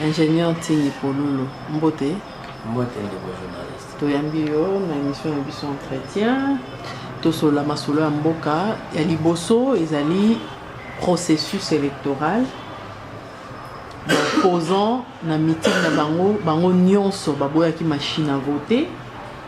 ingénieur ntingi polulu mbote mbote ndeko journaliste toyambi yo na émission na biso entretien tosola masolo ya mboka ya liboso ezali processus électoral baposant na mitingi na bango bango nyonso baboyaki machine à voter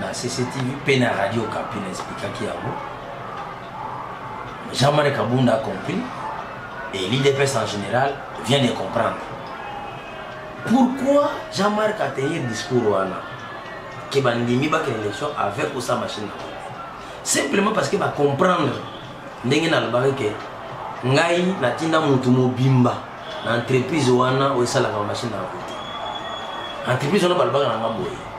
na cctv mpe na radio kapi na esplikaki yango jean marie kabunda compris et l'idps en général vient de comprendre pourquoi jean marc ateye discours wana ke bandimi bakela élection avec osa machine na simplement parce que bacomprendre ndenge nalobaki ke ngai natinda motu mobimba na entreprise wana oyo esalaka bamashine na vote entreprise wana balobaka na ngambo ye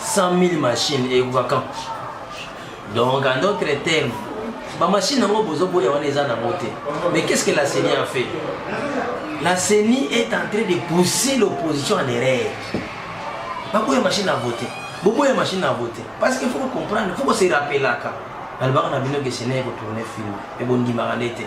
100000 machine ekoka quand donc en d'autres termes bamashine yango bozoboya wana eza nango te mais qu'est ce que la ceni a fait la ceni est en train de pousser l'opposition en erreur baboya machine à voter boboya machine à voter parce qu'il faut comprendre faut se rappelaka nalobaka na bino ke ceni ekotourne film ebondimaka nde te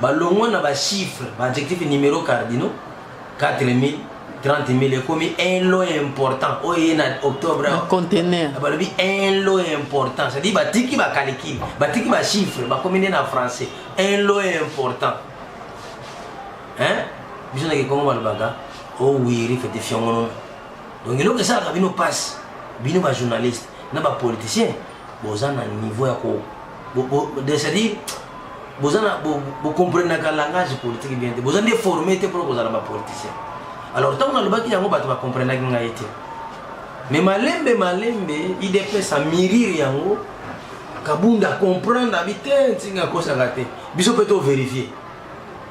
balongwa na ba chiffres ba adjectifs numero cardinaux 4000 30000 ekomi un lot important oyo eye na octobre contener balobi un lot important c'est à dire batiki bakalikili batiki bachiffre bakomi nde na français un lot important hein biso na kikongo balobaka owiri oh fete fiongono donc eloko esalaka bino mpasi bino bajournaliste na bapoliticien boza na niveau ya ko c'est-à-dire boza na bocomprenaka langage politique bien te boza nde forme te mpona kozala bapoliticien alors ntango nalobaki yango bato bacomprenaki ngai te mais malembe malembe idps amirire yango kabunda comprendre abi te ntinga akosaka te biso mpe toverifie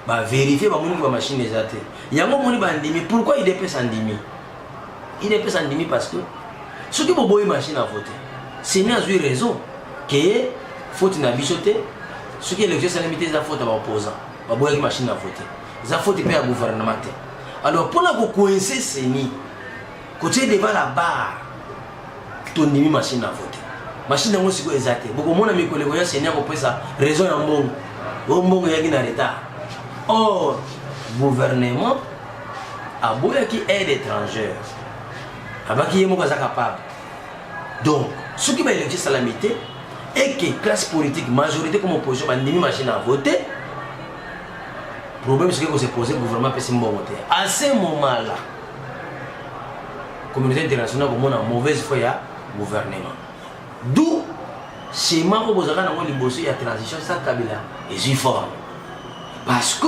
baverifie bamoniki bamashine eza te yango omoni bandimi pourkui idps andimi udps andimi parce que soki boboyi machine à voter seni azwi raison ke faute na biso te soki élection esalemi te eza faute ya baopposant baboyaki machine à voter eza faute mpe ya gouvernement te alors mpo na kokoinse seni kotie devant la barre tondimi machine à voter machine yango sikoyo eza te bokomona mikolo ekoya seni ya kopesa raison ya mbongo oyo mbongo eyaki na retard or gouvernement aboyaki aide étrangère abaki ye moko aza capable donc soki baélection esalami te eke classe politique majorité comme opposition bandimi machine à voter problème soki ekose pose gouvernement apesi mbongo te à ce moment là communauté internationale komona mauvaise foi ya gouvernement d'où schéma oyo bozalaka nango liboso ya transition sa kabila ezwi forme parce que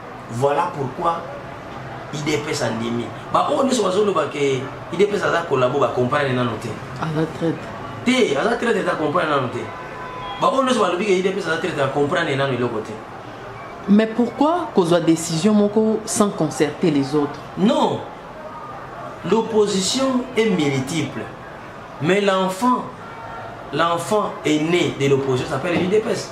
Voilà pourquoi idps andimi baoyo nyonso bazoloba ke idps aza kolabo bacomprane nano te aza traite te aza traite te acomprane nano te baoyo nyonso balobi ke idps aza traite acomprane nano eloko te mais pourquoi kozwa décision moko sans concerter les autres non l'opposition est multiple mais l'enfant l'enfant est né de l'opposition s'appelle l'idps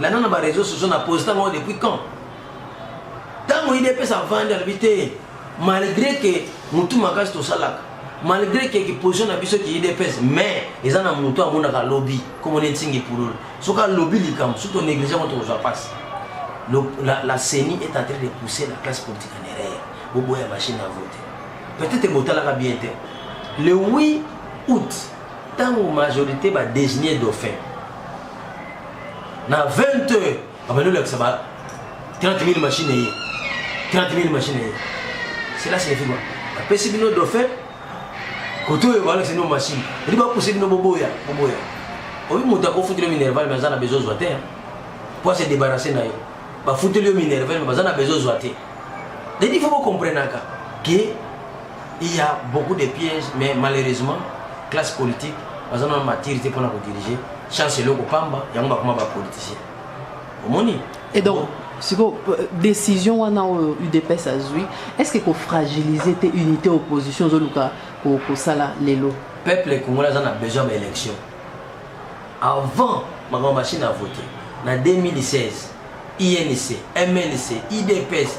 landa na ba réseaux sociaux na posta ngo depuis quand ntango idps avandi alobi te malgré que motu makasi tosalaka malgré que kiposition na biso ki idps mais eza na motu amonaka lobi komona etingi pululu soki alobi likambo soki tonéglige yango tokozwa mpasi la, la ceni est en train de pousser la classe politique en erreur boboya machine à voter peut-être botalaka bien te le 8 août ntango majorité badésigne dauphin na 20 heures abandi olakisa ba 30 000 machine eye 30 000 machine eye cela signifie quoi apesi bino dauphin kote oyo balakisa bino machine eli bapuse bino boboya boboya oyo moto akofutela minerval me aza na bezo zwa te mpo ase debarrasse na yo bafuteli yo minerval me baza na bezo zwa te dedi fo bokomprenaka ke il y a beaucoup de pièges mais malheureusement classe politique baza na matiri te mpona kodirige chance eloko pamba yango bakoma bapoliticien omoni et donc sikoyo euh, décision wana oyo udps azwi est ce que kofragilise te unité opposition ozoluka kosala lelo peuple congolais aza na besoin ya élection avant makambo machine à voter na 2016 inc mnc idps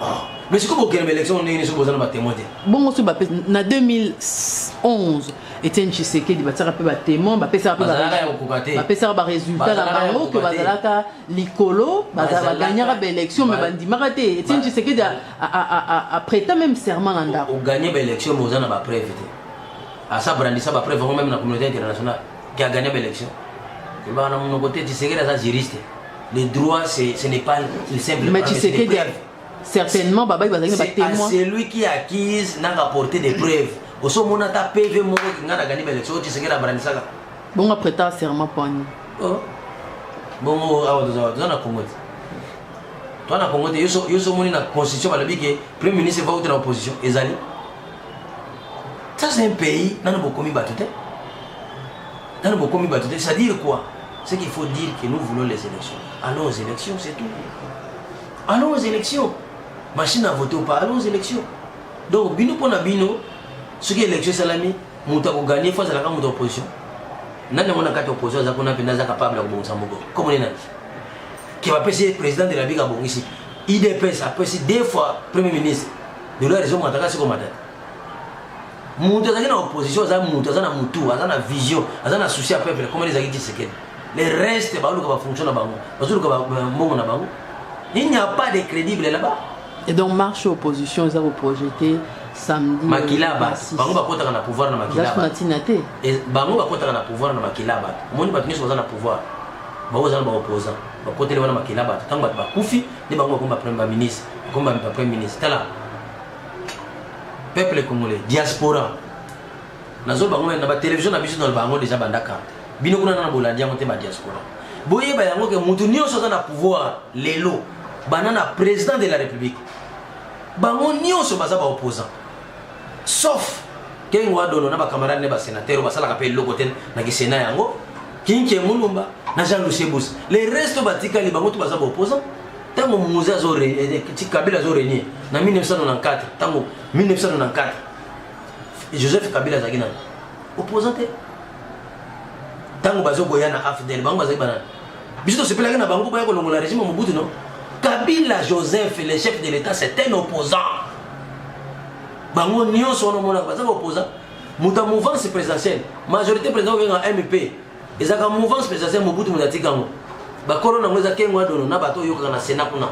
Ah, mais sikoyo bokende ba élection ndenge nini soki boza na batémoin te bongo soki bapesi na 2011 etienne tshisekedi batiaka mpe batémoin bapesaka mpe Bazalaka ya kokoka te. bapesaka baresultat na Bazalaka ya bango ke kokoka te. bazalaka likolo Bazalaka- baganyaka baélection me Ba- bandimaka te etienne Ba- tshisekedi a- a- a- a- apreta même serment na ndako oganye baélection mais oza na bapreuve te asa brandisa bapreuve yango meme na communauté internationale qui a gagné l'élection kolobaka na monoko te tisekedi aza juriste le droit ce n'est pas une simple mais tisekedi certainement babai bazali na batémoin celui qui accuse n'a rapporté des preuves oso omona ata pv moko kinga na gagné l'élection oyo tisekedi abrandisaka bongo apreta serment poni oh. bongo awa tozala toza na congo te toza na congo te yo so omoni na constitution balobi ke premier ministre va uta na opposition ezali Ça c'est un pays, nanu bokomi bato te. Nanu bokomi bato te, ça dire quoi C'est qu'il faut dire que nous voulons les élections. Allons aux élections, c'est tout. Allons aux élections. Machine à voter ou pas, allons aux élections. Donc, bino pour la bino, ce qui est élection salami, mutu akoganye fois azalaka mutu opposition nani yango na kati opposition aza kuna mpenza aza capable ya kobongisa moko komoni nani ke bapesi président de la ligue abongisi idps apesi deux fois premier ministre dollar ezo mata kasi komata mutu azalaki na opposition aza mutu aza na mutu aza na vision aza na souci ya peuple komeli ezalaki tshisekedi le reste baoluka bafonction na bango bazoluka mbongo na bango il n'y a pas de crédible là-bas et donc marche opposition eza koprojete samedi makila bato bango bakotaka na pouvoir na makila bato na ntina te bango bakotaka na pouvoir na makila bato omoni bato nyonso baza na pouvoir bango baza na baopposant bakoteli wana makila bato ntango bato bakufi nde bango bakoma premier ba ministre bakoma ba premier ministre tala peuple congolais diaspora nazo bango na ba télévision na biso na bango déjà banda carte bino kuna na bolandi yango te ba diaspora boyeba yango ke mutu nyonso aza na pouvoir lelo bana na président de la république bango nyonso baza ba opposant sauf kengo adono na ba camarade ne ba sénateur basalaka pe eloko te na kisena yango Kinke Mulumba na Jean Lucie Busa. Les restes batikali bango tout baza opposant. Tango Muze azo régner, eh, eh, Kabila azo régner na 1994, tango 1994. Joseph Kabila azaki na opposant te. Tango bazo koya na AFDL bango bazaki banana. Biso tosepelaki na bango baya kolongola régime Mobutu non. Kabila Joseph le chef de l'État c'est un opposant. Bango nyonso wana omonaka baza ba opposant muta mouvance présidentielle majorité président obenga mp ezalaka mouvance présidentielle mobutu moto atika yango bakolo nango eza kengo adono na bato oyokaka na sena kuna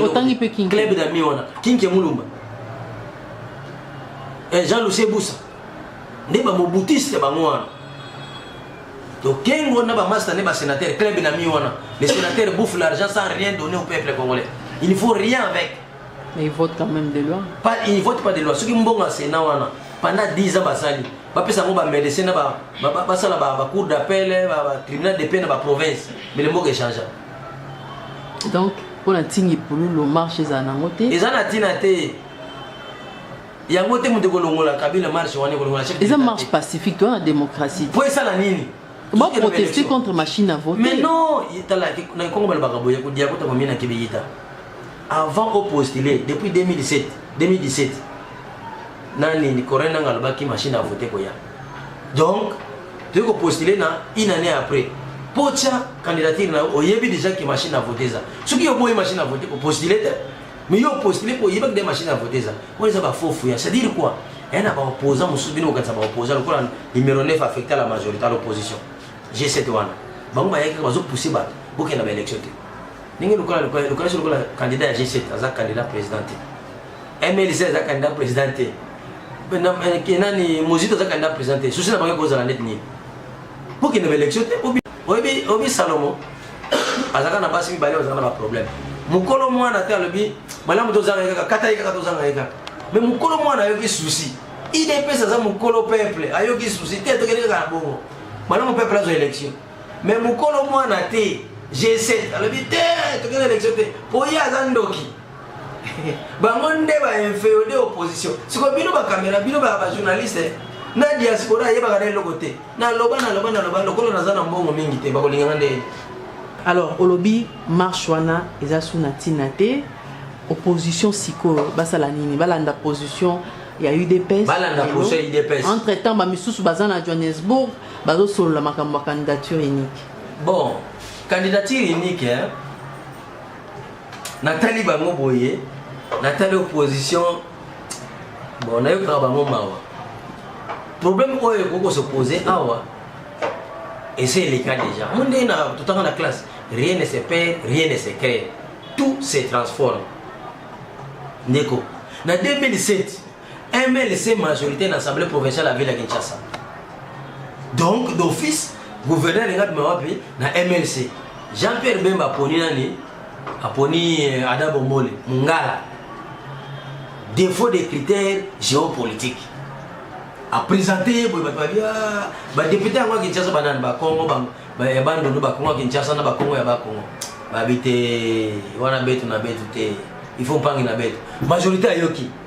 otangi mpe club dami wana kinke mulumba eh, jean lucie busa nde bamobutiste bango wana to kengo na bamasta nde basénateur club dami wana le sénateur bouffe l'argent sans rien donner au peuple congolais il ne faut rien avec Mais il vote quand même des lois. Pas, il vote pas des lois. Ceux qui m'ont au Sénat, pendant 10 ans, bah, ça bapesa yango bamedecin basala bacour d'appel eh, tribunal de paix na baprovince mele mboka echangea donc mpona ntingi pululu marche ezala nango te eza na ntina te yango te moto ekolongola kabila marche wana ekolongola chef eza marche pacifique to na démocratie mpo esala nini ba protester contre machine à voter mais non tala na kongo balobaka boye kodia kota komina kebeyita avant o postuler depuis 2017 2017 nani ni corona nanga lobaki machine à voter koya donc tu ko postuler na une année après pocha candidature na oyebi déjà que machine à voter ça ce qui oboye machine à voter ko postuler mais yo postuler ko yeba que machine à voter ça pour les ba faux fouya c'est dire quoi un ba opposant mususu bino kanisa ba opposant lokola numéro 9 affecté à la majorité à l'opposition j'ai cette one bango ba yaki ba zo pousser ba bokenda ba élection te ndenge lokola lokola lokola so lokola candidat ya G7 aza candidat président te MLC aza candidat président te eh, nani Mozito aza candidat président te souci na bango ekozala neti nini bokende ba élection te oyebi oyebi Salomo azalaka na basi mibale bazalaka na baproblème mokolo mwana te alobi malamu tozanga ye kaka kata ye kaka tozanga ye kaka mais mokolo mwana ayoki souci idps aza mokolo peuple ayoki souci te tokende kaka na bongo malamu peuple azwa élection me mokolo mwana te g7 alobi te tokende élection te mpo ye aza ndoki bango nde bainfeode opposition siko bino bakamera bino bajournaliste na diaspora ayebaka na eloko te naloba naloba naloba lokola naza na mbongo mingi te bakolinganga nde alors olobi marche wana eza su na ntina te opposition sikoyo basala nini balanda position ya udps balanda position ya udps entre temps bamisusu baza na johannesbourg bazo solola makambo ya candidature unique bon candidature unique hein? natali bango boye natali opposition bon nayokaka bango mawa problème oyo ekoki kosepose awa ese eleka déjà mo ndenge na totanga na classe rien ne se perd rien ne se crée tout se transforme ndeko na 2007 MLC majorité na assemblée provinciale ya ville ya Kinshasa. Donc d'office gouverneur alingi abima wapi na MLC. Jean-Pierre Bemba aponi nani? Aponi eh, Ada Bombole, Mungala. Défaut des critères géopolitiques. A présenté ye boye bato babi ah, badepute yango ya Kinshasa banani bakongo ya bandundu bakongo ya Kinshasa na bakongo ya bakongo babi te wana betu na betu te il faut mpangi na betu majorité ayoki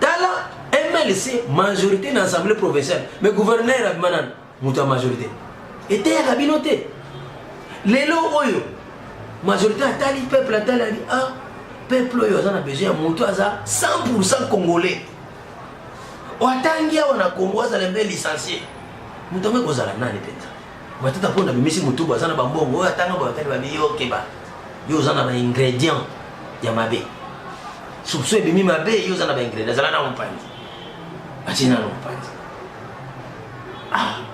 tala mlc majorité na assemblée provinciale mais gouverneur abima nani moto ya majorité eteyaka bino te lelo oyo majorité atali peuple atali ali ah peuple oyo aza na besoin ya moto aza 100 congolais oyo atangi awa na congo azala mpe licencie moto yango ekozala nani mpenza Matata mpo nabimisi motu baza na bambongo oyo atanga boyatali babi yo okeba yo oza na baingredient ya mabe soupçon ebimi mabe yo oza na baingredient azala na mopanzi atie nano mopanzi ah.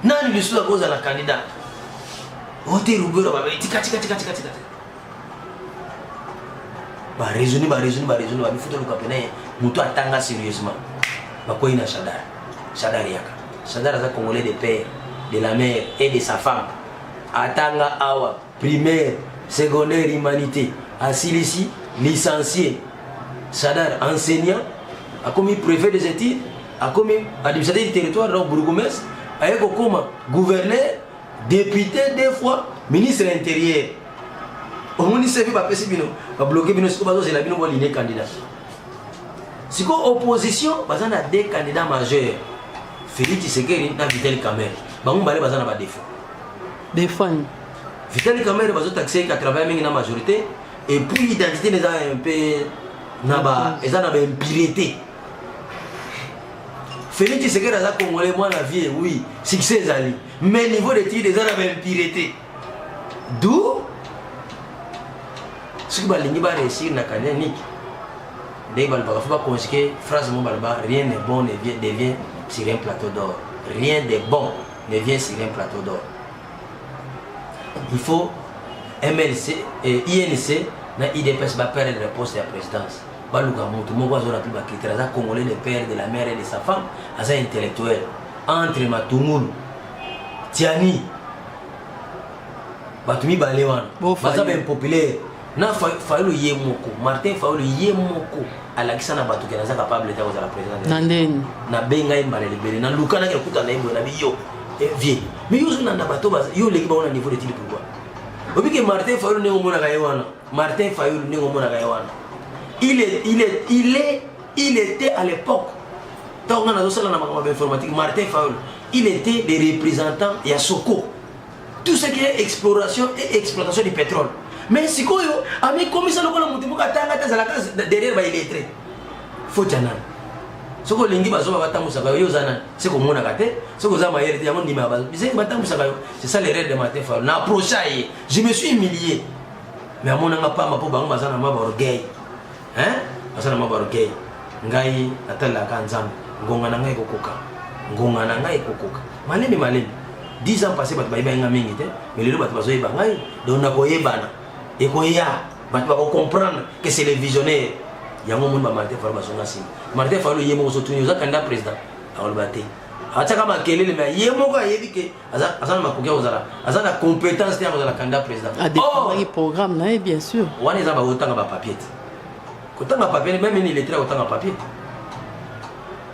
nani lisusu akozala candidat ote rubero babe tikatikatikatikatika baresoni baresoni baresoni babifuta luka pene moto atanga sérieusement bakwei na shadar shadar yaka shadar aza congolais de père de la mère et de sa femme atanga awa primaire secondaire humanité asilisi licencié shadar enseignant akomi préfet des études akomi administrateur du territoire donc bourgomestre aye kokoma gouverneur député deux fois ministre intérieur omoni sevi bapesi bino babloke bino sikoyo bazozela bino boline candidat sikoyo opposition baza na deux candidat majeur félix tshisekedi na vitel camere bango mibale baza na badefaut defani vitel camere bazotakise ka travaille mingi na majorité et puis identité eza un peu na ba eza na baimpurité félix tshisekedi aza congolais mwana vie oui succès ezali mais niveau d'étude eza na baimpurité du soki balingi ba réussir na kania niki ndenge balobaka fo baconjuke phrase mo baloba rien ne bon ne vient, devient sur un plateau d'or rien de bon ne vient sur un plateau d'or il faut mlc eh, inc na idps baperdre le poste ya présidence baluka motu moko azona mpe bakritere aza congolais le père de la mère et de sa femme aza intellectuel entre matungulu tiani bato mibale wana baza ba impopulaire na fayulu ye moko martin fayulu ye moko alakisa na bato ke naza capable te kozala président na ndeni nabenga ye mbala libele nalukanaki akuta na ye boye na biyo eh, vie mi yo ozolanda bato yo oleki bango na niveau de tili pourquoi obike martin fayulu ndenge omonaka ye wana martin fayulu ndenge omonaka ye wana il est, il est, il est Il était à l'époque ntango nga nazosala na makambo ya informatique martin faul il était le représentant ya soko tout ce qui est exploration et exploitation du pétrole mais sikoyo amikomisa lokola motu moko atanga te azalaka derrière baillettre foti ya nani soki olingi bazoba batambwisaka yo yo oza nani se komonaka te soki oza mayele te yango ndima bizeki batambwisaka yo c'est ça l'erreur de martin faul na approcha ye je me suis humilié mais amonanga pamba mpo bango baza na mwa baorgueil hein aza na mwa bargei ngai natalelaka nzambe ngonga na ngai ekokoka ngonga na ngai ekokoka malemi malemi 10 ans passé bato bayebaki ngai mingi te mais lelo bato bazoyeba ngai donc nakoyebana ekoya bato bakocomprendre que c'est le visionnaire yango omoni bamartin falu bazonga nsima martin falu ye moko ozotuni oza kanda président akoloba te atiaka makelele me ye moko ayebi ke aza aza na makoki ya kozala aza na compétence te ya kozala candidat président adefendaki oh! programme na ye bien sûr wana eza bakotanga bapapier te kotanga papier meme ini lettre akotanga papier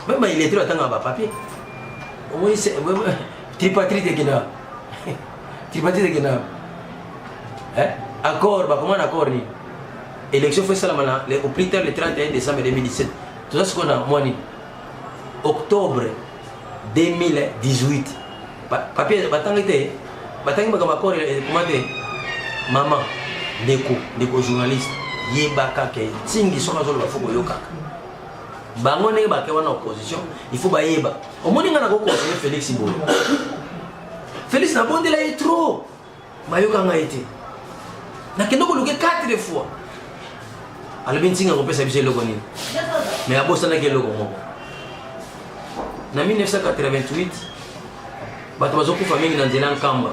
meme bailettre atanga bapapier omoni tripatrite ekenda tripatrite ekenda eh? accord bakoma na accord nini élection fo esalama na au plus tard le 31 décembre 2017 toza sikoyo na mwa nini octobre 2018 papier batangi te batangi makambo ya kore ekoma te mama ndeko ndeko journaliste yebaka ke ntingi soki azoloba fo koyokaka bango ndenge bake wana opposition il faut bayeba omoni ngai nakoki konseye félix boye félix nabondela ye trop bayoka ngai te nakende koluke 4 fois alobi ntinga kopesa biso eloko nini mai abosanaki eloko moko na 1988 bato bazokufa mingi na nzela nkamba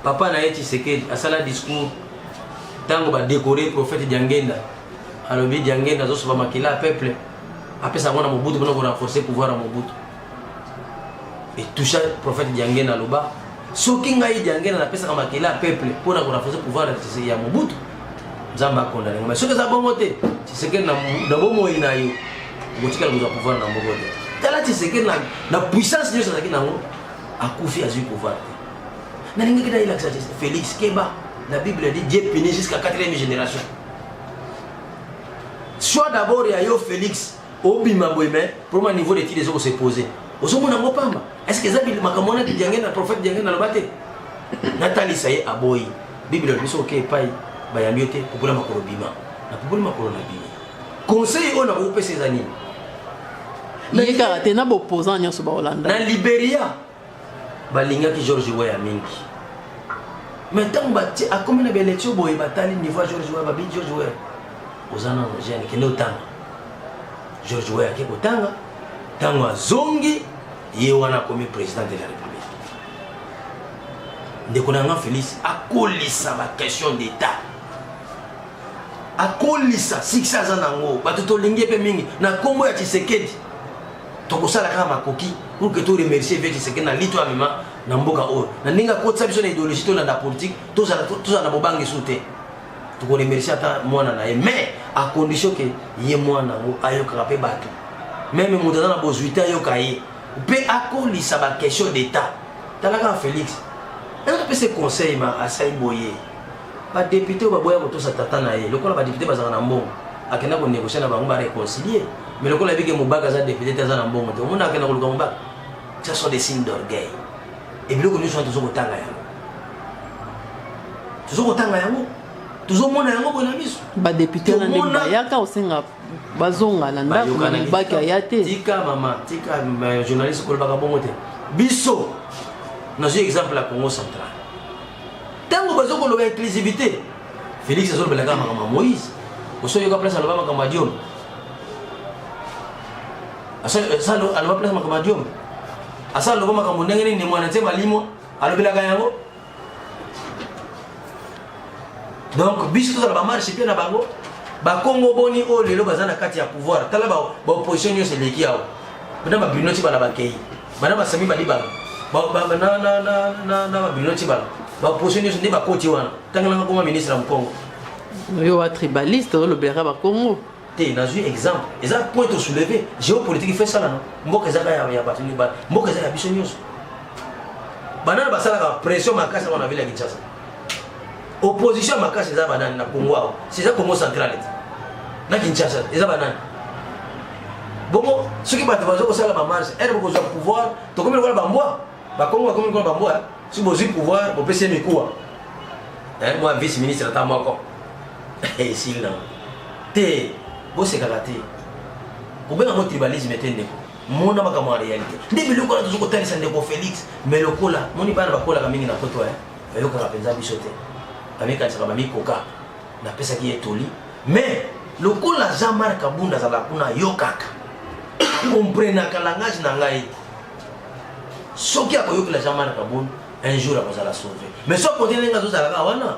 papa na ye tshisekedi asala discours ntango badekore prophète diangenda alobi diangenda azosopa makila ya peuple apesa yango na mobutu mpona korenforce pouvoir ya mobutu etoucha prophète diangena aloba soki ngai diangena napesaka makele ya peuple mpo na korafoze pouvoir ya mobutu nzambe akondane ngai soki eza bongo te tisekeli na bomoi na yo okotikala kozwa pouvoir na moko te tala tisekeli na puissance nyonso azalaki nango akufi azwi pouvoir te nalingaki nayelakisa félix keba la bible dit dieu punit jusqu'à quatrième génération soit d'abord ya yo félix obima boye mais problème niveau d'étude ezo ko se poser ozomona ngo pamba est ce que eza makambo wana diange na prophète diange na loba te natalisa ye aboyi bible alobi soki oke epai bayambi yo te popola makolo bima na popoli makolo na bima conseil oyo nakokopesa eza nini ye kaka te na baopposant nyonso baolanda na liberia balingaki george weya mingi mais ntango bati akomi na baelektio boye batali niveau ya george weya babi george weya oza na jeune kende otanga george weya ake kotanga ntango azongi ye wana akomi président de la république ndeko na nga félix akolisa baquestion d'état akolisa sikisi aza nango bato tolingi mpe mingi na nkombo ya tshisekedi tokosala kaka makoki pour que to remercier vieux Tshisekedi na lito amema na mboka oyo na ndenge akotisa biso na idéologie tolanda politique tozala tozala na bobangi su te tokoremercie ata mwana na ye mais à condition ke ye mwana yango ayokaka mpe bato meme moto aza na bozwi te ayoka ye mpe akolisa baquestion d'état talaka felix apesa conseil ma asali boye Ba depute oyo baboya kotosa tata na ye lokola ba depute bazaka na mbongo akenda ko negocier na bango ba reconcilier mais lokola abike mobaka aza depute te aza na mbongo te omona akenda koluka mobaka ça sont des signes d'orgueil et biloko nyonso wana tozo kotanga yango tozo kotanga yango tozomona yango boye na miso badepute na ndenge bayaka osenga bazonga na ndako na mobaki aya te tika mama tika journaliste kolobaka bongo te biso nazwi exemple ya congo central Tango bazo ko loba inclusivité. Felix azo lobela kaka makambo ya Moïse. Oso yoka place aloba makambo ya Diom. Asa asa aloba place makambo ya Diom. Asa aloba makambo ndenge nini mwana te malimo alobelaka yango. Donc biso tozala ba marche pe na bango bakongo boni oyo lelo baza na kati ya pouvoir tala baopposition nyonso eleki awa mpena babino ti bana bakei bana basami balibala na babino ti bala baposo nyonso nde bakoti wana ntango nanga koma ministre ya mokongo yo wa tribaliste olobelaka bakongo te nazwi exemple eza point tosouleve géopolitique fe esalana mboka ezaka ya bato mboka eza ya biso nyonso banana basalaka pression makasi yango na vile ya kinshasa opposition ya makasi eza banani na congo awa seza congo central ete na kinshasa eza banani bongo soki bato bazo kosala bamarche ere bokozwa pouvoir tokomi lokola bambwa bakongo bakomi lokola bambwa eh? soki bozwi pouvoir bopesi ye mikuwa eh, mwa vice ministre ata moko esili eh, nango te bosekaka te kobenga ngo tribalisme te ndeko mona makambo ya réalité nde biloko wana tozo kotalisa ndeko félix mais lokola moni bana bakolaka mingi na poto eh, bayokaka mpenza biso te bamikanisaka bamikoka napesaki ye toli mais lokola jean marc abunda azalaka kuna ayokaka akomprenaka langage na ngai soki akoyokela jean marc abunda un jour akozala sauve mais soki akote ndenge azozalaka wana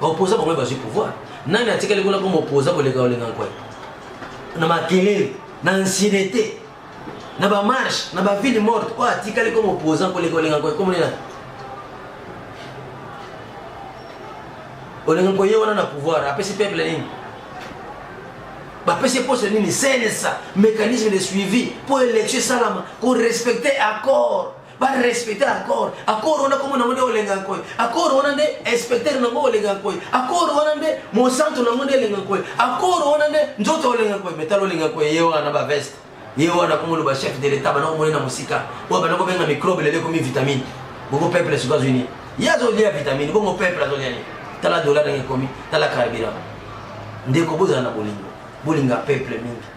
Ba opposants bango bazwi pouvoir. Nani atikali kuna comme opposant koleka olenga nkoi? Na makelele, na ancienneté, na ba marche, na ba ville morte oyo atikali comme opposant koleka olenga nkoi comme nani? Olenga nkoi ye wana na pouvoir apesi peuple nini? bapesi poste nini cnsa mécanisme de suivi mpo élection esalama korespecte accord ba respecter accord accord wana kombo nango nde olenga nkoy accord wana nde inspecteur nango olenga nkoy accord wana nde mosantu nango nde elenga nkoy accord wana nde nzoto olenga nkoy metalo olenga nkoy ye wana ba veste ye wana komoloba chef de l'etat bana komoni na mosika oyo bana kobenga microbe lelo ekomi vitamine bongo peuple soki azwi nini ye azolia vitamine bongo peuple azolia nini tala dola ndenge ekomi tala carburant ndeko bozala na bolingo bolinga peuple mingi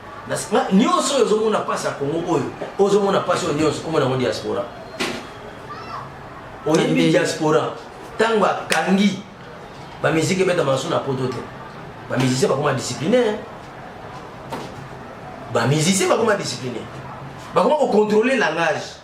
nyonso oyo ozomona mpasi ya kongo oyo ozomona mpasi oyo nyonso komona yango diaspora oyebi diaspora ntango akangi bamiziki ebetama nasu na poto te bamusicien bakoma disciplinaire bamusicien bakoma disciplinaire bakoma kocontrole langage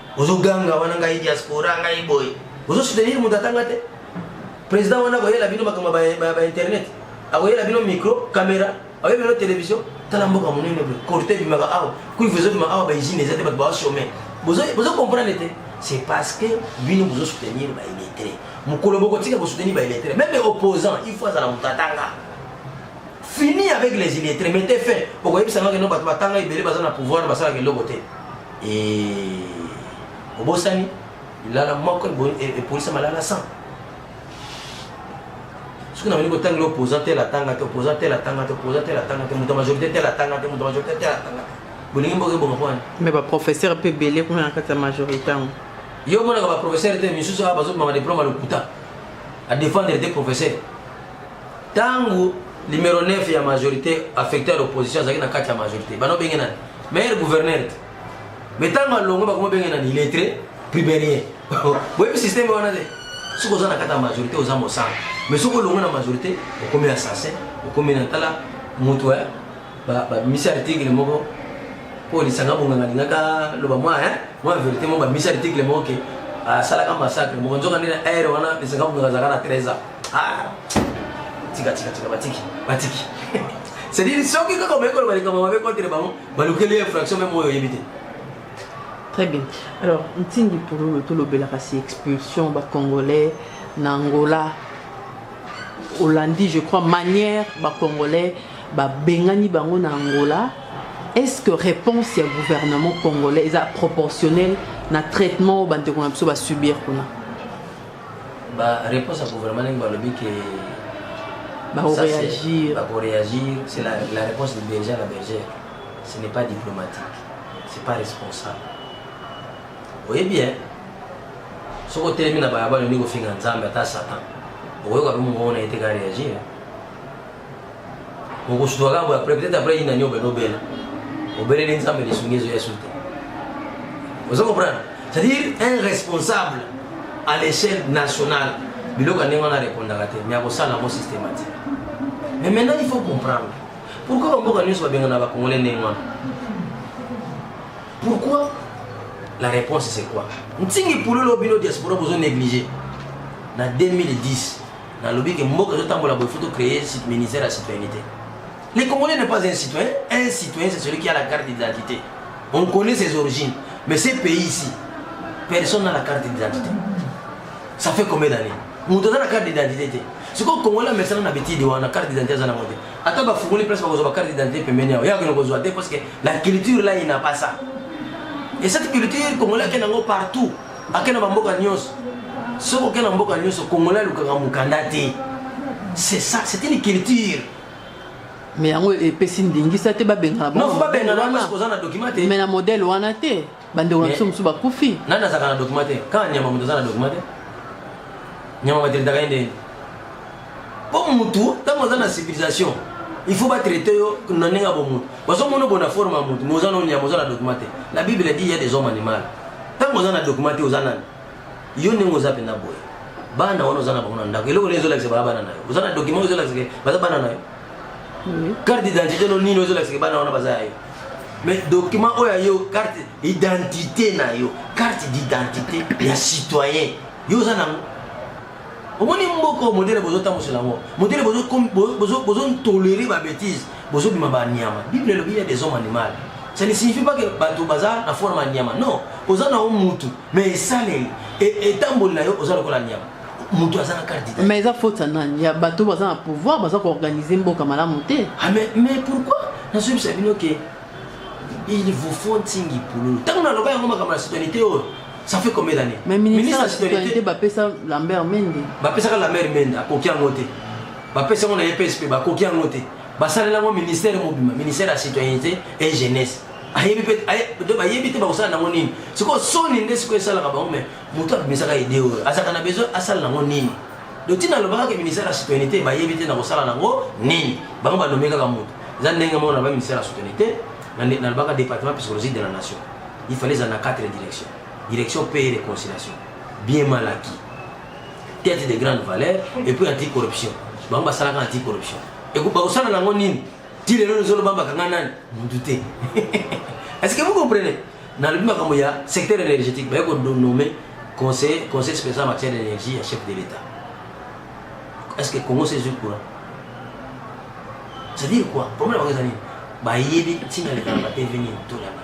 Ozo ganga wana ngai diaspora ngai boy. Ozo soutenir mutu atanga te. President wana koyela bino makambo ba, ba internet. Akoyela bino micro, camera, akoyela bino television. Tala mboka munene boy. Korte bimaka awa. Kui vous êtes awa ba usine ezate ba ba chômer. Bozo bozo comprendre te. C'est parce que bino bozo soutenir ba illettrés. Mukolo boko tika ko soutenir ba illettrés. Même opposant, il faut azala mutu atanga. fini avec les illettrés mettez fin okoyebisa nga keno bato batanga ebele baza na pouvoir basalaka eloko te Eh, obosani lilala moko epolisa malala 100 soki na bandi kotangela opposant tel atanga te opposant tel atanga te opposant tel atanga te moto majorité tel atanga te moto majorité tel atanga te bolingi mboka ebonga mpo wani mais baprofesseur mpe ebele kuna na kati ya majorité yango yo omonaka baprofesseur te misusu awa bazobimama diplome ya lokuta adefendre te professeur Tangu numero 9 ya majorité affecté à l'opposition azalaki na kati ya majorité bano benge nani meilleur gouverneur te mais ntango alongo bakoma benge nani illettré primerien boyebi système wana te soki oza na kati ya majorité oza mosala mais soki olongo na majorité okomi assassin okomi na tala moto ya bamisi article moko mpo lisanga bonganga alingaka loba mwa mwa verité moko bamisi article moko ke asalaka massacre moko nzoka nde na aire wana lisanga bonganga azalaka na 13 ans Ah, tika tika tika batiki batiki c'est-à-dire soki kaka omeyi koloba likambo mabe contre bango balukeli infraction meme oyo oyebi te très bien alors ntingi pololo tolobelaka si expulsion bacongolais na angola olandi je crois manière bacongolais babengani bango na angola est-ce que réponse ya gouvernement congolais eza proportionnelle na traitement oyo bandeko na biso basubir kuna Ba réponse ya gouvernement ndenge balobi ke bakoreagir bakoreagir c'est la, la réponse de berger na berger ce n'est pas diplomatique c'est pas responsable oye bien soki otelemi na balabala olingi kofinga nzambe ata satan okoyoka mpe mongongo na ye te ka reagir okosutuka kaka boye après peut-être après yina niobe nobela obeleli nzambe lisungi ezo ya sute ozo comprendre c'est-à-dire un responsable à l'échelle nationale biloko ya ndenge wana arépondaka te mais akosala yango systématique mais maintenant il faut comprendre pourquoi bamboka nyonso babengana bakongole ndenge wana pourquoi la réponse c'est quoi ntingi pulolo bino diaspora bozo néglige na 2010 nalobi ke mboka ezotambola boye faut tocreye ministère ya citoyenneté le congolais n'est pas un citoyen un citoyen c'est celui qui a la carte d'identité on connaît ses origines mais ce pays ici personne n'a la carte d'identité ça fait combien d'années moto aza na carte d'identité te sikoyo congolais amesana na betide wana carte d'identité aza nango te ata bafungoli place bakozwa bacarte d'identité pembeni yao yakende kozwa te parce que la culture là il n'a pas ça et cette culture congolais akende yango partout ake na bamboka nyonso soki oke na mboka nyonso congolais alukaka mokanda te c'est ça c'est une culture mais yango epesi ndingisa te babengana mais na modèle wana te bandeko na biso mosusu bakufi nani azalaka na document te kaka nyama moto aza na document te nyama materitaka ye ndeni mpo mutu ntango aza na civilisation il faut batraite yo na ndenge ya bomutu bazomona obona forme ya mutu mais oza na onyama oza na document te la bible dit ya des hommes animal ntango oza na document te oza nani yo ndenge oza mpenza boye bana wana oza na bango na ndako eloko nini ezolakisa baa bana na yo oza na document ezolakisa ke baza bana na yo carte d'identité no nini ezolakisa ke bana wana baza ya yo mais document oyo ya yo carte identité na yo carte d'identité ya citoyen yo oza nango omoni mboka oyo modele bozotambwisela yango modele bozontolere babétise bozobima banyama bible elobi ya des hommes animal ça ne signifie pas que bato baza na forme ya nyama non oza na yo mutu mais esaleli etamboli na yo oza lokola nyama moto aza na carte d'identité mais eza faute ya nani ya bato baza na pouvoir baza koorganize mboka malamu te ah, mais, mais pourquoi nazoyebisa bino ke il vous faut ntingi pululu ntango naloba yango makambo ya citoyenité oyo ça fait combien d'années mais ministre de citoyenneté bapesa lambert mende bapesaka lambert mende akoki yango te bapesa yango na ye psp bakoki yango te basalela yango ministère mobima ministère ya citoyenneté et jeunesse ayebi mpe bayebi te bakosala nango nini sikoyo soni nde sikoyo esalaka bango mais moto abimisaka idée oyo azalaka na besoin asala nango nini donc ntina alobaka ke ministère ya citoyenneté bayebi te na kosala nango nini bango banome kaka moto eza ndenge moko na ba ministère ya citoyenneté nalobaka département psychologique de la nation il fallait ezala na quatre direction direction paix et réconciliation bien mal acquis tête de grande valeur et puis anti corruption bango basalaka anti corruption bakosala nango nini ti lelo lozoloba bakanga nani mutu te est ce que vous comprenez nalobi makambo ya secteur énergétique baye konomme conseil conseil spécial en matière d'énergie ya chef de l'état est ce que congo sezwi courant c'est à dire quoi problème bango eza nini bayebi ntina lekana bateveni tolanda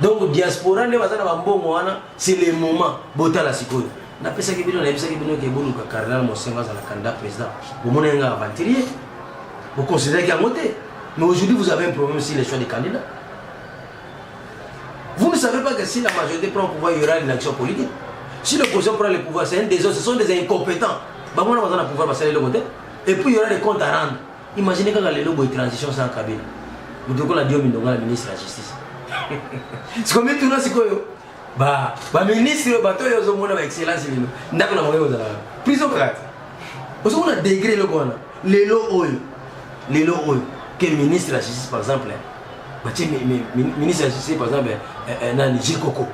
donc diaspora nde baza na bambongo wana c'est le moment botala sikoyo napesaki bino nayebisaki bino ke boluka cardinal mosengo azala candidat président bomona ye nga aventurier boconsideraki yango te mais aujourd'hui vous avez un problème sur les choix des candidats vous ne savez pas que si la majorité prend le pouvoir il y aura une action politique si l'opposition prend le pouvoir c'est un désordre ce sont des incompétents bango wana baza na pouvoir basala eloko te et puis il y aura des comptes à rendre Imagine kaka lelo boye transition sans Kabila. Moto lokola Diomi Ndongala ministre ya justice. Sikoyo mituna sikoyo ba ba ministre oyo bato oyo ozomona ba excellence lelo ndako na bango ekozala prison kaka te. Ozomona degré eloko wana lelo oyo lelo oyo ke ministre ya justice par exemple batie ministre ya justice par exemple eh, eh, nani Jekoko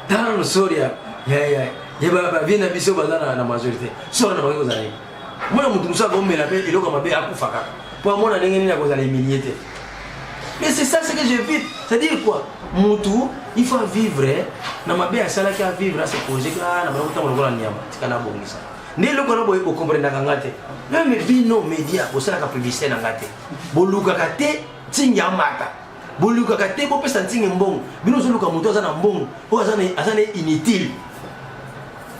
tala losori ya bavi na biso baza na majorité soko na bangi kozala mwana moto mosusu akomela mpe eloko mabe akufa kaka mpo amona ndenge nini akozala emilie te mais c'est ça ce que je vis c'est dire quoi motu il faut avivre na mabe asalaki avivre ase projet ka na bango ntango lokola nyama tika nabongisa nde eloko wana boye bokomprendaka nga te meme bino média bosalaka publicité na nga te bolukaka te ntingi amata bolukaka te bopesa ntinge mbongo bino ozoluka moto aza na mbongo oyo aza na inutile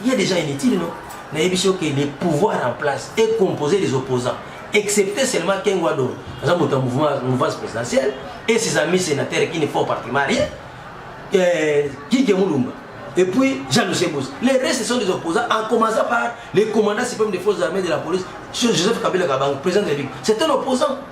ye déjà inutile no nayebisi yo ke le pouvoir en place est composé des opposants excepté seulement kengo adoro aza moto ya mouvance présidentielle et ses amis sénateurs qui ne font partie marie euh, kike mulumba et puis Jean Lucien Bouss. Les restes sont des opposants, en commençant par les commandants suprêmes des forces armées de la police, Joseph Kabila Kabang, président de la République. C'est un opposant.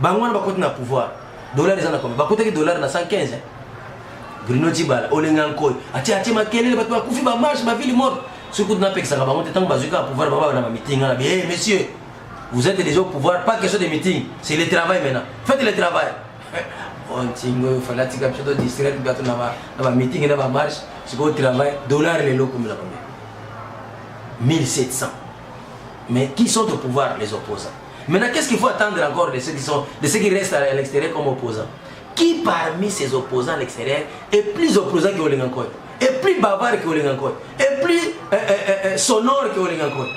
bango wana bakoti na pouvoir dollar eza na combien bakotaki dollar na 115 hein? bruno tibala olenga nkoi atie atie makelele bato bakufi bamarche bavile morte soki kutu napekisaka bango te ntango bazwi kaka pouvoir baba na bamiting wana bie monsieur vous êtes déjà au pouvoir pas question de meeting c'est le travail maintenant faites le travail ontingo oh, oyo fala atika biso to distraire bato na bameeting na bamarche sikoyo travail dollar lelo okomela combien 1700 mais qui sont au pouvoir les opposants Maintenant, qu'est-ce qu'il faut attendre encore de ceux qui, sont, de ceux qui restent à l'extérieur comme opposants Qui parmi ces opposants à l'extérieur est plus opposant que Olengankoy Est plus bavard que Olengankoy Est plus euh, euh, euh, euh sonore que Olengankoy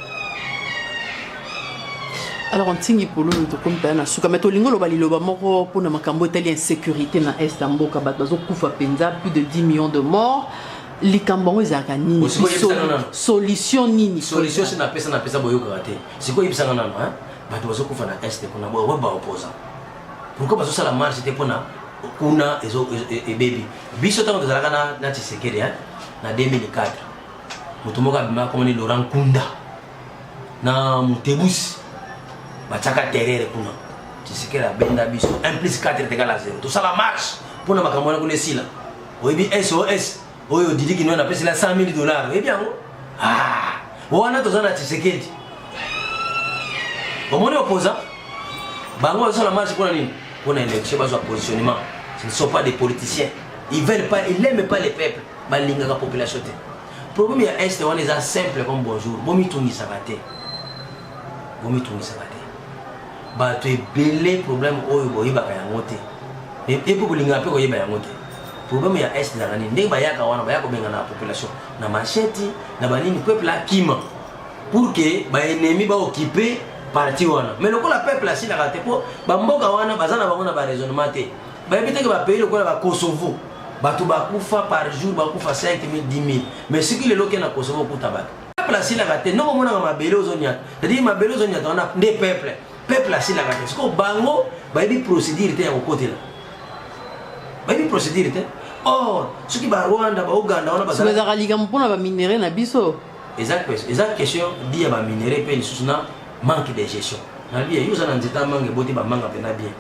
alors ntingi pololo tokomi mpaya na suka mai tolingi oloba liloba moko mpona makambo etali insécurité na est ya mboka bato bazokufa mpenza plus de 10 millions de morts likambo yango ezalaka nini solution nini solution si napesa napesa boyokaka te Sikoyo yebisa nga nano hein, bato bazokufa na est kuna boye ba opposant pourquoi bazosala marche te mpona kuna ezo e, e, ebebi biso ntango tozalaka na na Tshisekedi hein na 2004 moto moko abima akomani Laurent Kunda na Mutebusi batiaka terere kuna Tshisekedi abenda biso 1 plus 4 tegala 0 tosala marche mpona makambo wana kuna esila oyebi SOS oyo didi kinoa napesela 100 000 dollars oyebi yango ah, wana toza na tshisekedi omoni opposant bango bazosala marche mpona nini mpona élection bazwa positionnement ce ne sont pas des politiciens ils veulent pas ils n'aiment pas les peuples balingaka population te problème ya est wana eza simple comme bonjour bomitungisaka te bomitungisaka te bato ebele problème oyo boyebaka yango te epe bolingaka mpe koyeba yango te problème ya est ezalaka nini ndenge bayaka wana baya kobengana population na macheti na banini peuple akima pour que baennemi baokipe parti wana mais lokola peuple asilaka te mpo bamboka wana baza na bango na baraisonnement te bayebi teke bapays lokola bakosovo bato bakufa par jour bakufa 5 000 10 000 mais soki lelo oke na kosovo okuta bato peuple asilaka te ndoko omonaka mabele ozonyata cetadire mabele ozonyata wana nde peuple peuple asilaka te sikoyo bango bayebi procédure te ya kokotela bayebi procédure te or soki barwanda bauganda wana bazalaka likambo mpona baminere na biso eza question di ya baminere mpe lisusu na manque de gestion na bie yo oza na nzeta manga eboti bamanga mpena bien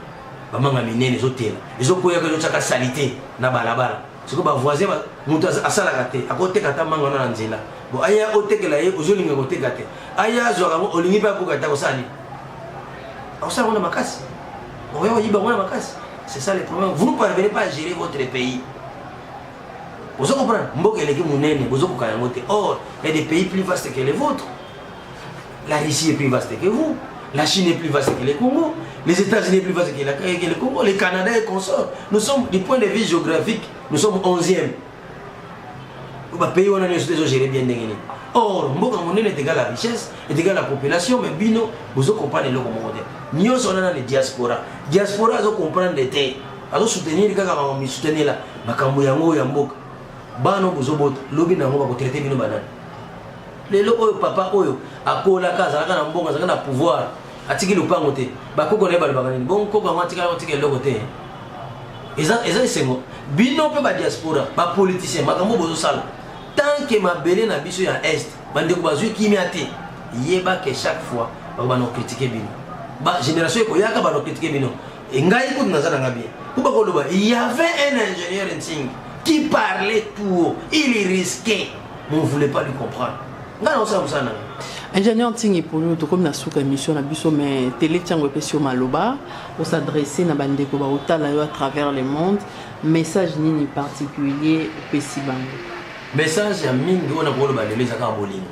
bamanga minene ezotela ezokweyaka ezotyaka salite na balabala siko ba voisin ba mutu asalaka te akoteka ata manga wana na nzela bo aya otekela ye ozolinga koteka te aya azwaka yango olingi mpe abuka te akosala nini akosala yango na makasi okoya koyiba yango na makasi c'est ça le problème vous ne parvenez pas à gérer votre pays ozo comprendre mboka eleki monene bozokoka yango te or ya des pays plus vaste que les vôtres La Russie est plus vaste que vous. La Chine est plus vaste que le Congo. Les États-Unis est plus vaste que, la, que le Congo. Le Canada est consort. Nous sommes, du point de vue géographique, nous sommes 11e. bapays wana nyonso te ezogere bien ndenge nini or mboka monene etegal la richesse etegal la population mais bino bozo comprendre eloko moko te nyonso wana nani diaspora diaspora azo comprendre te azo soutenir kaka makambo misutenela makambo yango ya mboka bana bozobota lobi na yango bakotraite bino banani lelo oyo papa oyo akolaka azalaka na mbongo azalaka na pouvoir atiki lopango te bakoko na ye balobaka nini bongo koko yango atikala kotika eloko te eza eza esengo bino mpe badiaspora bapoliticien makambo bozosala tant que mabele na biso ya est bandeko bazwi kimia te yeba ke chaque fois bakobana kokritike bino bagénération ekoyaka bana kokritike bino e ngai kutu naza na ngai bien mpo bakoloba il y avait un ingénieur nsing qui parlait tout haut il risquait mais on voulait pas lui comprendre ngai naosala mosala na ingénieur ntingi polo tokomi na suka émission na biso mais tele ntango epesi yo maloba osadresse na bandeko baotala yo à travers le monde message nini particulier opesi bango message ya mingi oyo nakoloba lelo eza kaka bolingo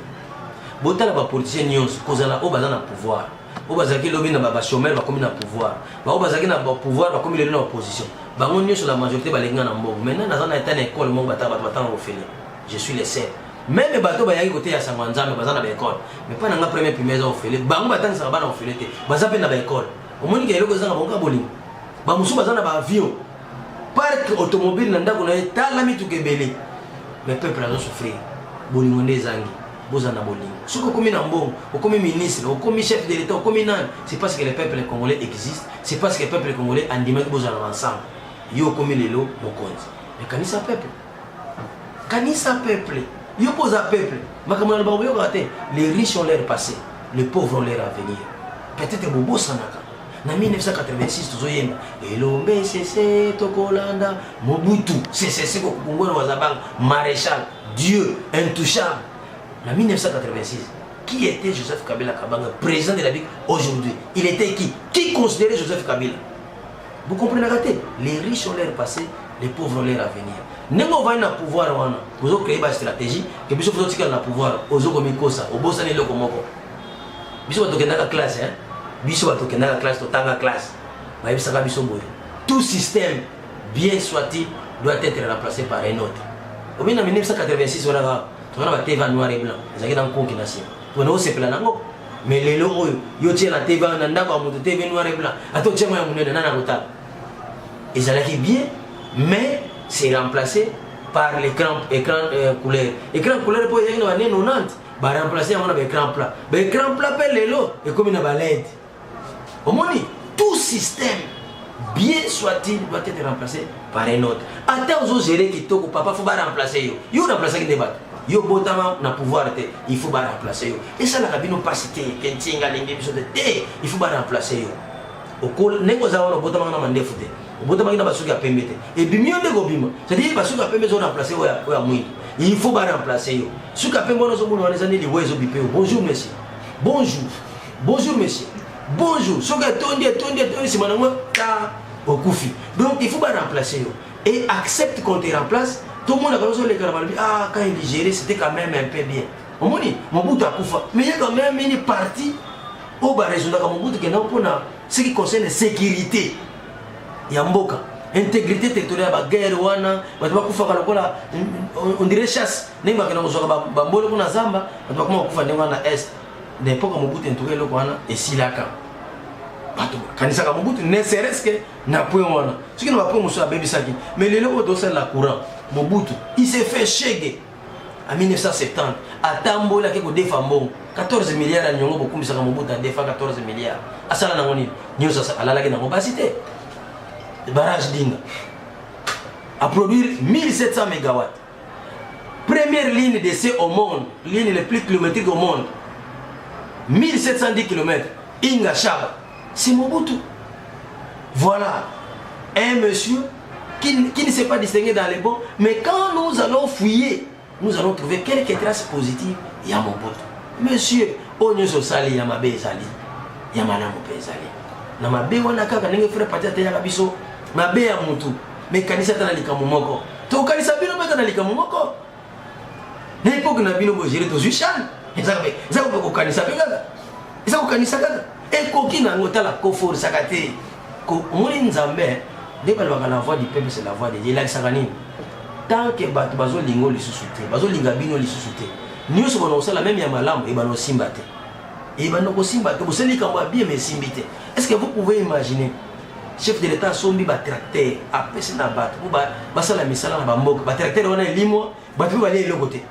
botala bapoliticien nyonso kozala oyo baza na pouvoir oyo bazalaki lobi na bachomere bakomi na pouvoir baoyo bazalaki na pouvoir bakomi lelo na opposition bango nyonso la majorité balingi nga na mbongo maintenant naza na eta na ekole moko batanga bato batanga kofele je suis le seul meme bato bayaki koteya sango ya nzambe baza na baekole mais mpa na nga premier primaire eza ofele bango batangisaka bana ofele te baza mpe na baekole omoni ka eloko ezanga bakoka bolingo bamosusu baza na baavion parke automobile na ndako na ye tala mituka ebele mais peuple azo souffrir bolingo nde ezangi boza na bolingo soki okomi na mbongo okomi ministre okomi chef de l'état okomi nani c'est parce que le peuple congolais existe c'est parce que le peuple congolais andimaki bozala na ensemble yo okomi lelo mokonzi ekanisa peuple kanisa peuple yo mpo oza peuple makambo na lobaka boyokaka te les riches ont leur passé les pauvres ont leur avenir peut-être bobosanaka na 1986 tozoyemba elombe sese tokolanda mobutu sesese kokungwelo wazabanga maréchal dieu intouchable na 1986 qui était joseph kabila kabanga président de la bique aujourd'hui il était qui qui considérait joseph kabila Vous comprenez raté Les riches ont leur passé, les pauvres ont leur avenir. ndenge ovandi na pouvoir wana ozo créer ba stratégie ke biso tozotikala na pouvoir ozo komikosa obosani eloko moko biso bato kendaka classe hein? biso bato kendaka classe totanga classe bayebisaka biso boye tout système bien soit-il doit être remplacé par un autre obi na 1986 wana kaka tozana ba teva noir et blanc ezalaki na nkonki na nsima pona osepela nango mais lelo oyo yo tie na tv na ndako ya moto tv noir et blanc ata otie ngo ya monene nani akotala ezalaki bien mais c'est remplacé par l'écran écran euh, couleur écran couleur mpo ezalaki na bane 90 baremplace yango na baécran plat baécran plat mpe lelo ekomi na balede Omoni tout système bien soit-il doit être remplacé par un autre. Ata ozo gérer kitoko papa faut ba remplacer yo. Yo remplacer ki ndebato. Yo botama na pouvoir te, il faut ba remplacer yo. Et ça la kabino pas cité, kentinga lenge biso te. Il faut ba remplacer yo. Okola nengo za wana botama na mandefu te. Botama na basuki ya pembe te. Et bimi yo ndeko bima. C'est-à-dire basuki ya pembe zo remplacer yo ya mwingi. Il faut ba remplacer yo. Suka pembe wana zo mona wana ezani liwezo bipe. Bonjour monsieur. Bonjour. Bonjour monsieur. Bonjour. Soki etondi etondi etondi sima na moi ta okufi. Donc il faut ba remplacer yo. Et accepte qu'on te remplace. Tout le monde a besoin de la maladie. Ah quand il digérait c'était quand même un peu bien. Au moins Mobutu akufa. Mais il y a quand même une partie au bas résultat comme Mobutu qui n'a pas ce qui concerne la sécurité. Ya mboka. intégrité territoriale baguerre wana bato bakufaka lokola on dirait chasse ndenge bakenda kozwaka bambolo kuna zamba bato bakoma kokufa ndenge wana na est na epoka mobutu entuka eloko wana esilaka bato bakanisaka mobutu ne seres ke na point wana soki na bapoint mosusu abebisaki mais lelo oyo tosalela courant mobutu il se fait shege en 1970 atamboli ake kodefa mbongo 14 milliard ya niongo bokumisaka mobutu adefa 14 milliard asala nango nini nyonso alalaki nango basi te barrage dinga aproduire 1700 mégawatt Première ligne de ce au monde, ligne le plus kilométrique au monde, 1710 km, Inga Shaba, c'est Mobutu. Voilà, un monsieur qui, qui ne s'est pas distingué dans les bons, mais quand nous allons fouiller, nous allons trouver quelques traces positives, il y a Mobutu. Monsieur, oyo nyonso osali ya mabe ezali ya malamu mpe ezali na mabe wana kaka ndenge frère pati ateyaka biso mabe ya mutu mais kanisa ata na likambo moko tokanisa bino mpe ata na likambo moko na epoke na bino bogere tozwi shane eza kope kokanisa mpe kaka eza kokanisa kaka ekoki na yango tala koforsaka te omoni nzambe nde balobaka la voix du peuple c'est la voix de dieu elakisaka nini tant que bato bazolinga o lisusu te bazolinga bino lisusu te nyonso bana kosala meme ya malamu ebana osimba te ebana kosimba te bosali likambo ya bien ma esimbi te est ce que vous pouvez imaginer chef de l'etat asombi batracteur apesi na bato mpo basala misala na bamboka batracteur wana elimwa bato mpe balia eloko te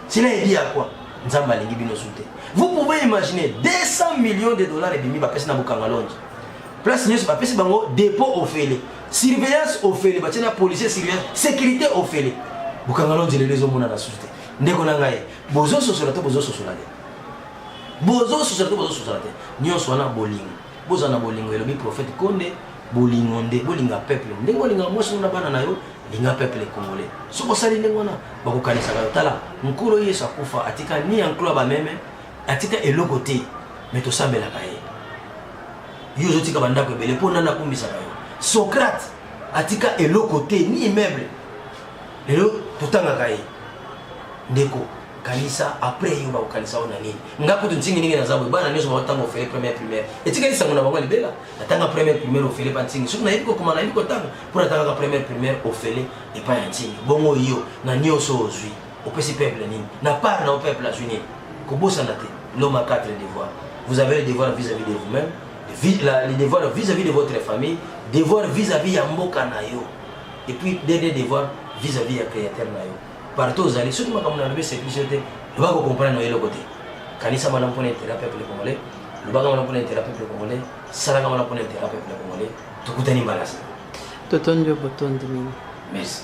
sila ebi ya kwa nzambe alingi bino su te vous pouvez imaginer 200 millions de dollars ebimi bapesi na bokanga longe place nyonso bapesi bango dépôt ofele surveillance ofele batie na policier surveillance sécurité ofele bokanga longe lelo ezomonana susu te ndeko na ngai bozososola to bozososola te bozososola to bozososola te nyonso wana bolingo Bozala na bolingo elobi prophète Konde, bolingo nde bolinga peuple. Ndenge olinga mwasi na bana na yo, linga peuple congolais. Soki osali ndenge wana, bakokanisaka yo tala, nkolo Yesu akufa atika ni ya nkolo ya bameme, atika eloko te, mais tosambelaka ye. Yo ozotika bandako ebele mpo nani akumisaka yo? Socrate atika eloko te ni immeuble. Lelo totangaka ye. Ndeko, kanisa après yo bakokanisa yo na nini? nga kutu ntingi ndenge naza boye bana nyonso baotanga ofele première primaire etikali sango na bango ya libela natanga première primaire ofele pa ntingi soki nayebi kokoma nayebi kotanga mpo natangaka première primaire ofele epai ya ntingi bongo yo na nyonso ozwi opesi peuple nini na part na o peuple azwi nini kobosana te l'homme a quatre devoirs vous avez le devoir vis-à-vis de vous-même le devoir vis-à-vis de votre famille devoir vis-à-vis ya mboka na yo et puis dernier devoir vis-à-vis ya créateur na yo partout ozali soki makambo nalobi eseplisi yo te loba kokomprendre oyo eloko te kanisa wana mpona intera peuple congolais lobaka wana mpona intera peuple congolais salaka wana mpona intera peuple congolais tokutani mbalasi totondi yo botondi mingi merci